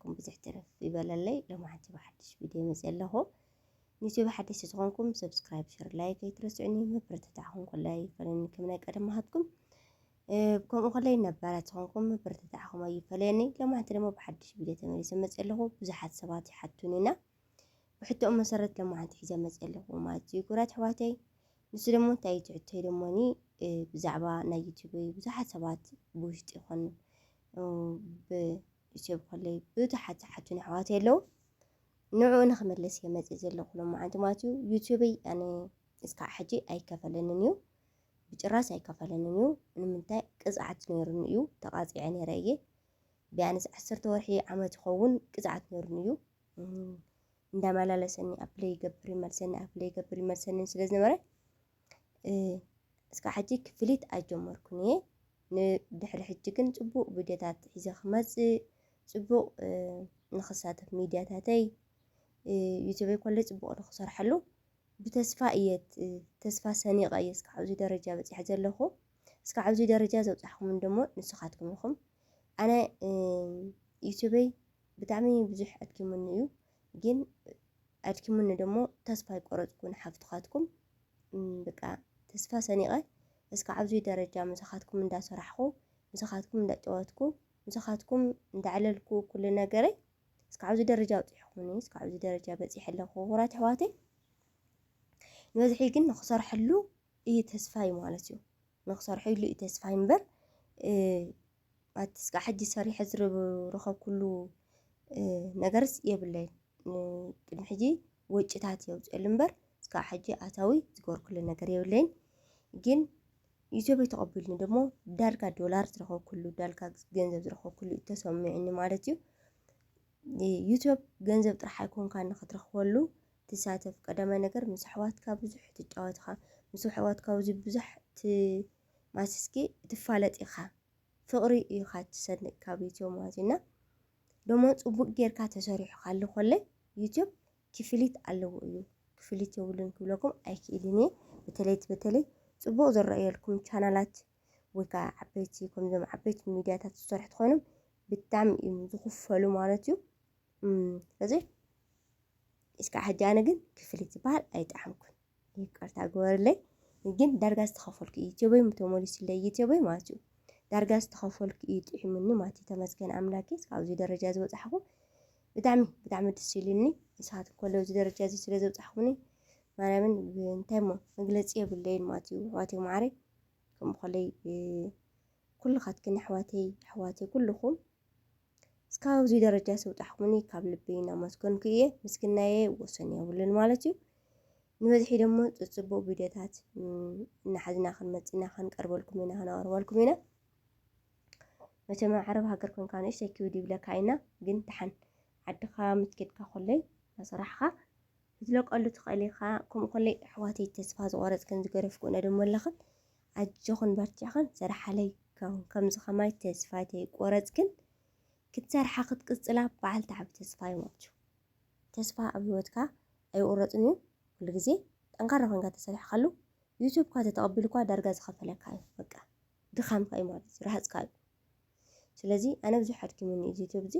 ኩም ብዙሕ ትርፍ ይበለለይ ሎማዓንቲ ብሓድሽ ቪድዮ መፅእ ኣለኹ ንዩቲዩብ ሓደሽቲ ዝኾንኩም ሰብስክራይብ ሸር ላይክ ኣይትረስዑኒ ምብርትታዕኹም ኮላይ ይፈለኒ ከም ናይ ቀደም ሃትኩም ከምኡ ኮላይ ነባራት ዝኾንኩም ምብርትታዕኹም ኣይፈለየኒ ሎማዓንቲ ድማ ብሓድሽ ቪድዮ ተመሊሰ መፅእ ኣለኹ ብዙሓት ሰባት ይሓቱኒና ብሕቶኡ መሰረት ሎማዓንቲ ሒዘ መፅእ ኣለኹ ማለት እዩ ጉራት ኣሕዋተይ ንሱ ደሞ እንታይ ትሕቶ ደሞኒ ብዛዕባ ናይ ዩቲዩብ ብዙሓት ሰባት ብውሽጢ ይኹን ዩቱብ ከለይ ብዙሓት ዝሓቱን ኣሕዋተይ ኣለዉ ንዕኡ ንክምልስ እየ መፅእ ዘለኹ ሎማዓንቲ ማለት እዩ ዩቱበይ ኣነ እስካዕ ሕጂ ኣይከፈለንን እዩ ብጭራስ ኣይከፈለንን እዩ ንምንታይ ቅፅዓት ነይሩኒ እዩ ተቃፂዐ ነይረ እየ ቢያንስ ዓሰርተ ወርሒ ዓመት ይኸውን ቅፅዓት ነይሩኒ እዩ እንዳመላለሰኒ ኣፕለይ ይገብር ይመልሰኒ ኣፕለይ ይገብር ይመልሰኒ ስለ ዝነበረ እስካዕ ሕጂ ክፍሊት ኣይጀመርኩን እየ ንድሕሪ ሕጂ ግን ጽቡቅ ቪድዮታት ሒዘ ክመጽእ ጽቡቅ ንክሳተፍ ሚድያታተይ ዩቱበይ ኮለይ ጽቡቅ ንክሰርሐሉ ብተስፋ እየ ተስፋ ሰኒቀ እየ እስካዕ ኣብዚ ደረጃ በጺሐ ዘለኹ እስካዕ ኣብዚ ደረጃ ዘብጻሕኩምን ደሞ ንስኻትኩም ኢኹም ኣነ ዩቱበይ ብጣዕሚ ብዙሕ ኣድኪሙኒ እዩ ግን ኣድኪሙኒ ደሞ ተስፋ ኣይቆረጽኩን ሓፍትካትኩም ብቃ ተስፋ ሰኒቀ እስካዕ ኣብዙይ ደረጃ ምሳካትኩም እንዳሰራሕኩ ምሳካትኩም እንዳጨወትኩ ምሳካትኩም እንዳዕለልኩ ኩሉ ነገረይ እስካዕ ኣብዚ ደረጃ ኣብጺሕኩምኒ እስካዕ ኣብዚ ደረጃ በጺሐ ኣለኩ ክቡራት ኣሕዋተይ ንበዝሒ ግን ንክሰርሐሉ እዩ ተስፋይ ማለት እዩ ንክሰርሐሉ እዩ ተስፋይ እምበር ኣቲ ስጋዕ ሕጂ ሰሪሐ ዝረኸብኩሉ ነገርስ የብለይን ቅድሚ ሕጂ ወጪታት እየ ኣውፅኤሉ እምበር ስጋዕ ሕጂ ኣታዊ ዝገበርኩሉ ነገር የብለይን ግን ዩቲዩበይ ተቐቢሉኒ ደሞ ዳርጋ ዶላር ዝረኸብኩሉ ዳርጋ ገንዘብ ዝረኸብኩሉ እዩ ተሰሚዑኒ ማለት እዩ ዩቲዩብ ገንዘብ ጥራሕ ኣይኮንካ ንክትረኽበሉ ትሳተፍ ቀዳማይ ነገር ምስ ኣሕዋትካ ብዙሕ ትጫወትኻ ምስ ኣሕዋትካ ብዙሕ ማሲስኪ ትፋለጥ ኢካ ፍቅሪ ኢካ ትሰንቅ ካብ ዩቱብ ማለት እዩ እና ደሞ ጽቡቅ ጌርካ ተሰሪሑ ካሉ ኮለይ ዩቱብ ክፍሊት ኣለዎ እዩ ክፍሊት የብሉን ክብለኩም ኣይክእልን እየ በተለይ በተለይ ጽቡቅ ዝረኣየልኩም ቻናላት ወይ ከዓ ዓበይቲ ከምዞም ዓበይቲ ሚድያታት ዝሰርሑ ትኾይኖም ብጣዕሚ እዮም ዝኽፈሉ ማለት እዩ ስለዚ እስካዕ ሕጂ ኣነ ግን ክፍሊት ዝበሃል ኣይጠዓምኩን ይቅርታ ግበርለይ ግን ዳርጋ ዝተኸፈልኩ እዩ ቴበይ ተመሊሱለይ እዩ ቴበይ ማለት እዩ ዳርጋ ዝተኸፈልኩ እዩ ጥዒሙኒ ማለት እዩ ተመስገን ኣምላኬ ኣብዚ ደረጃ ዝበፃሕኹ ብጣዕሚ ብጣዕሚ ደስ ኢሉኒ ንስኻትኩም ከሎ እዚ ደረጃ እዚ ስለ ዘብፃሕኹኒ ማርያምን እንታይ እሞ መግለፂ የብለይን ማለት እዩ ኣሕዋተይ ማዓረይ ከምኡ ከለይ ኩልኻትክን ኣሕዋተይ ኣሕዋተይ ኩልኹም እስካብ ኣብዚ ደረጃ ስውጣሕኩምኒ ካብ ልቢ እናመስገንኩ እየ ምስግናየ ወሰን የብሉን ማለት እዩ ንበዝሒ ደሞ ፅፅቡቅ ቪድዮታት እናሓዝና ክንመፅእ ኢና ክንቀርበልኩም ኢና ክነቅርበልኩም ኢና መቸም ኣብ ዓረብ ሃገር ኮንካ ንእሽተይ ክብድ ይብለካ ኢና ግን ደሓን ዓድኻ ምትኬድካ ኮለይ ናሰራሕኻ ክትለቀሉ ትኽእል ኢኻ ከምኡ ኮለይ ኣሕዋተይ ተስፋ ዝቆረፅክን ዝገረፍኩ ነድመለኽን ኣጆኽን በርቲዕኽን ስርሓለይ ከም ከምዚ ከማይ ተስፋይ ተይቆረጽ ግን ክትሰርሓ ክትቅጽላ በዓል ተዓቢ ተስፋ እዮም ኣብቹ ተስፋ ኣብ ህይወትካ ኣይቁረጽን እዩ ኩሉ ግዜ ጠንካራ ኮንካ ተሰሪሕካሉ ዩቱብካ ተተቐቢሉኳ ዳርጋ ዝኸፈለካ እዩ በቃ ድኻምካ እዩ ማለት እዩ ረሃጽካ እዩ ስለዚ ኣነ ብዙሕ ኣድኪሙኒ እዚ ዩቱብ እዚ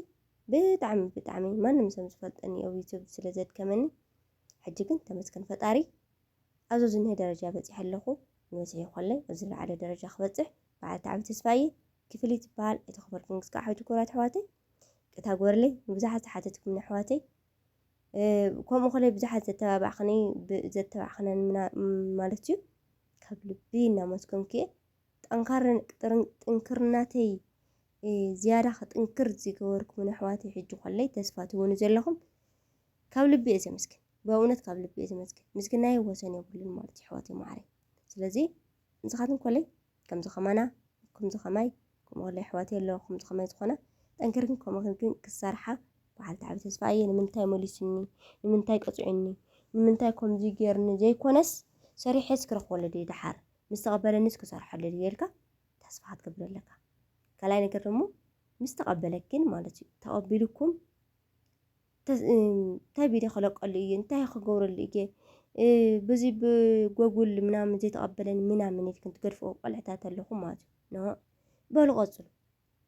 ብጣዕሚ ብጣዕሚ ማንም ሰም ዝፈልጠኒ ኣብ ዩቱብ ስለ ዘድከመኒ ሕጂ ግን ተመስገን ፈጣሪ ኣብዚ ዝንሄ ደረጃ በጺሐ ኣለኹ፣ ንበጺሒ ኮለይ ኣብ ዝለዓለ ደረጃ ክበጽሕ በዓልቲ ዓቢ ተስፋ እየ፣ ክፍሊ ትበሃል እቲ ክፍል ክንግስ ከኣ ሕጂ ኩቡራት ኣሕዋተይ ቅታ ግበርለይ ንብዙሓት ዝሓተትኩምኒ ኣሕዋተይ ከምኡ ኮለይ ብዙሓት ዘተባባዕክኒ ዘተባዕክነን ማለት እዩ ካብ ልቢ እናመስገንኩ እየ ጠንካርን ጥንክርናተይ ዝያዳ ክጥንክር ዝገበርኩምን ኣሕዋተይ ሕጂ ኮለይ ተስፋ ትህቡኒ ዘለኹም ካብ ልቢ እየ ዘመስግን በእውነት ካብ ልቢ እየ ዝመስግን ምስግናይ ወሰን የብሉን ማለት እዩ ኣሕዋተይ ማዓረይ ስለዚ ንስኻትኩም ኮለይ ከምዚ ከማና ከምዚ ከማይ ከምኡ ኮለይ ኣሕዋተይ ኣለዋ ከምዚ ከማይ ዝኾና ጠንክርክን ከምኡ ግን ክሰርሓ በዓል ተዓቢ ተስፋ እየ ንምንታይ መሊሱኒ ንምንታይ ቀፂዑኒ ንምንታይ ከምዚ ጌርኒ ዘይኮነስ ሰሪሐስ ክረኽበሉ ድየ ደሓር ምስ ተቐበለኒስ ክሰርሐሉ ድየ ኢልካ ተስፋ ክትገብር ኣለካ ካልኣይ ነገር ደግሞ ምስ ተቐበለክን ማለት እዩ ተቐቢልኩም እንታይ ቪድዮ ክለቀሉ እየ እንታይ ክገብረሉ እየ ብዙ ብጎጉል ምናምን ዘይተቐበለኒ ምናምን ኢልክን ትገድፍኦ ቆልዕታት ኣለኹም ማለት እዩ ኖ በሉ ቀፅሉ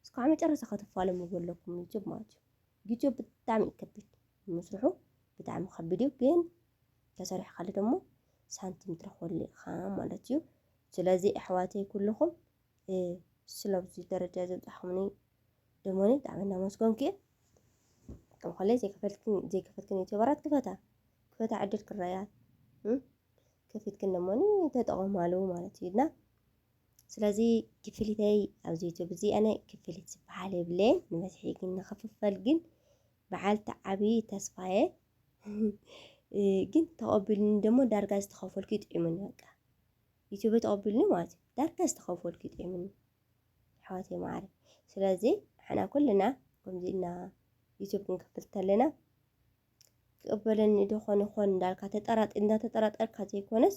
እስካዕ መጨረሻ ከተፋለሙ ዘለኩም ዩቱብ ማለት እዩ ዩቱብ ብጣዕሚ እዩ ከቢድ ምስርሑ ብጣዕሚ ከቢድ እዩ ግን ተሰሪሑ ካለ ደግሞ ሳንቲም ትረኽበሉ ኢኻ ማለት እዩ ስለዚ ኣሕዋተይ ኩልኹም ስለብዙ ደረጃ ዘብፅሓሙኒ ደሞኒ ብጣዕሚ እናመስገንኩ እየ ከም ኮለይ ዘይከፈልክን ዘይከፈልክን ዩቲዩበራት ክፈታ ክፈታ ዕድል ክረኣያ ከፊትክን ደሞኒ ተጠቐማሉ ማለት እዩ እና ስለዚ ክፍሊተይ ኣብዚ ዩቲዩብ እዚ ኣነ ክፍሊት ዝበሃል የብለ ንበዝሒ ግን ንክፍፈል ግን በዓልቲ ዓብዪ ተስፋየ ግን ተቐቢሉኒ ደሞ ዳርጋ ዝተኸፈልኩ ይጥዒሙኒ በቃ ዩቱበይ ተቐቢሉኒ ማለት እዩ ዳርጋ ዝተኸፈልኩ ይጥዒሙኒ ኣሕዋተይ መዓረይ ስለዚ ንሕና ኩልና ከምዚ ኢልና ዩቱብ ክንከፍት ከለና ክቕበለኒ ዶ ኾን ይኾን እንዳልካ ተጠራጥ እንዳተጠራጠርካ ዘይኮነስ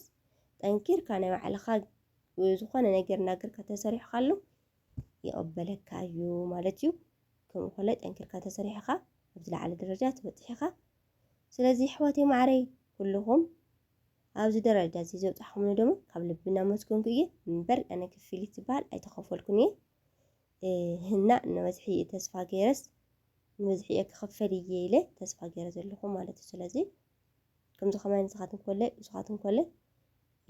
ጠንኪርካ ናይ ባዕልኻ ዝኾነ ነገር እናገርካ ተሰሪሕካሉ ይቕበለካ እዩ ማለት እዩ። ከምኡ ከሎ ጠንኪርካ ተሰሪሕኻ ኣብ ዝለዓለ ደረጃ ትበፅሕ ኢኻ። ስለዚ ኣሕዋተይ ማዕረይ ኩልኹም ኣብዚ ደረጃ እዚ ዘብጻሕኩምኒ ድማ ካብ ልቢ እናመስገንኩ እየ እምበር ኣነ ክፍሊት ዝበሃል ኣይተኸፈልኩን እየ ህና ንበዝሒ እየ ተስፋ ገይረስ ንበዝሒ እየ ክኽፈል እየ ኢለ ተስፋ ገይረ ዘለኹ ማለት እዩ ስለዚ ከምዚ ከማይ ንስኻትኩም ኮለ ንስኻትኩም ኮለ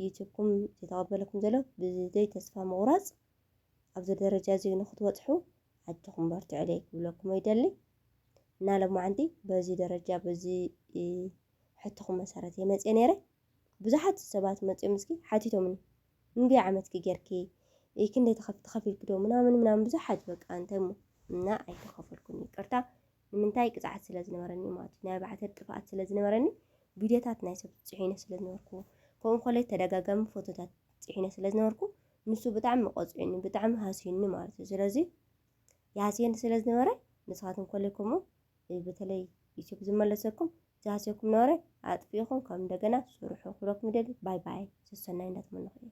ዩቱብኩም ዝተቐበለኩም ዘሎ ብዘይ ተስፋ ምቑራፅ ኣብዚ ደረጃ እዚ ንክትበፅሑ ኣጆኹም በርትዑለይ ክብለኩም ይደሊ እና ሎማዓንቲ በዚ ደረጃ በዚ ሕቶኹም መሰረት እየ መፅየ ነይረ ብዙሓት ሰባት መፅዮም እስኪ ሓቲቶምኒ እንድየ ዓመትኪ ጌርኪ ክንደይ ተኸፊልኪ ዶ ምናምን ምናምን ብዙሓት በቃ እንታይ እሞ እና ኣይተኸፈልኩን ይቅርታ ንምንታይ ቅፅዓት ስለ ዝነበረኒ ማለት እዩ ናይ ባዕተር ጥፍኣት ስለ ዝነበረኒ ቪድዮታት ናይ ሰብ ፅሒነ ስለ ዝነበርኩ ከምኡ ኮለይ ተደጋጋሚ ፎቶታት ፅሒነ ስለ ዝነበርኩ ንሱ ብጣዕሚ ቆፅዒኒ ብጣዕሚ ሃስዩኒ ማለት እዩ ስለዚ ያሴን ስለ ዝነበረ ንስኻትኩም ኮለይኩሞ በተለይ ዩቲዩብ ዝመለሰኩም ዝሃሰኩም ነበረ ኣጥፊኢኹም ከም እንደገና ስርሑ ክብለኩም ይደሊ ባይ ባይ ሰሰናይ እንዳትመነኹ እየ